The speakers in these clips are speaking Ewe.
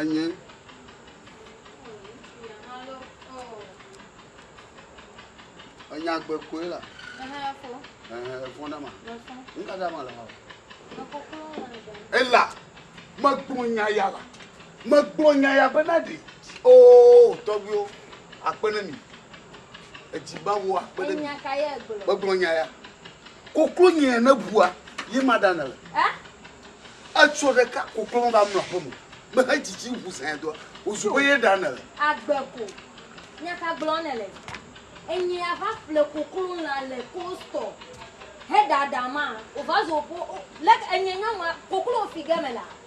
Enye. Enya gbe koe la. Efɔn dama. Nuka dama le hɔ? Ela. Megblɔ nya ya la. Megblɔ nya ya bena ɖi. Oo tɔgbuiwo. Akpe ne mi. Edzi ba wo akpe ɖe mi. Megblɔ nya ya. Koklo nyea ne bua ye ma ɖa nele. Etsɔ ɖeka koklo me va mlɔ aƒe me. Mehe dzidzi ŋu sɛa doa. Wozu be ye ɖa nele. Agbe ko. Nya ka gblɔ nele? Enyea va ƒle koklo lã le kostɔ he ɖaɖa ma. Wova zo ƒo. Leke enye nyɔnua koklo fi ge me la.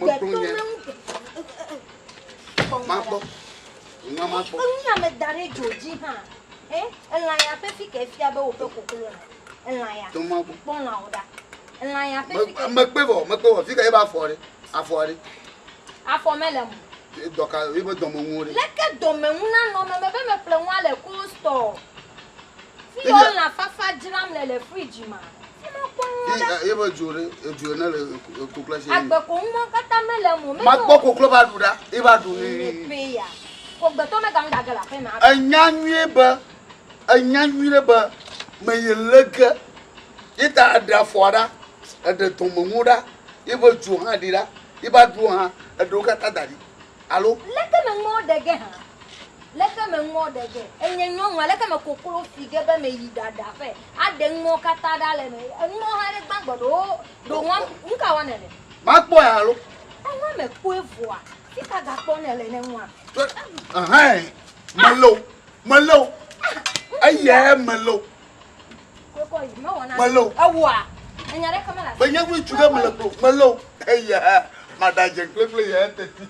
Mekplɔ nye. Makpɔ. Nua makpɔ. Ŋunya me da ɖe dzo dzi hã. Eh, elã ya ƒe fi ke fia be woƒe koklo le. Elã ya. Tɔ makpɔ. Kpɔ lã wo ɖa. Elã ya ƒe fi ke. Mekpe vɔ, mekpe vɔ. Fi ke ebe afɔ ɖe. Afɔ ɖe. Afɔ mele mo. Dɔka, ebe dɔmenuwo ɖe. Leke dɔmenu nanɔ me mebe meƒle nua le cold store. Fi yɔ lã fafa dzram le le fridge ma. Fi ma kpɔ nuwo ɖa. Ye be dzo ɖe, edzo ene le koklo si. Agbe ko ŋu ma kata me le mo. Ma kpɔ koklo ba ɖu ɖa, ye ba ɖu ni. Ni pe ya. Ko gbetɔ me ga ŋu ga ge la fe ma. Enya nyuie be, enya nyuie ɖe be me ye le ge. Ye ta eɖe afɔa ɖa, eɖe dɔme ŋuwo ɖa, ye be dzo hã ɖi ɖa, ye ba ɖuwo hã, eɖewo kata da ɖi. alo. Leke me ŋɔ ɖe ge hã? Leke me ŋɔ ɖe ge? Enye nyɔnua, leke me koklo fi ge be me yi ɖa ɖa ƒe a ɖe ŋɔ kata ɖa le me? Eŋɔ hã ɖe gbã gbɔɖe wo ɖo ŋɔ nuka wɔ ne le? Ma kpɔ ya alo. Eŋɔ me kpɔe vɔa, fika ga kpɔ ne le ne ŋɔa? Ehɛn, me le o, me le o. Eyɛ me le o. Melo. Be nye ŋu tu ɖe mele klo. Melo. Eya. Mada dze kple kple ya teti.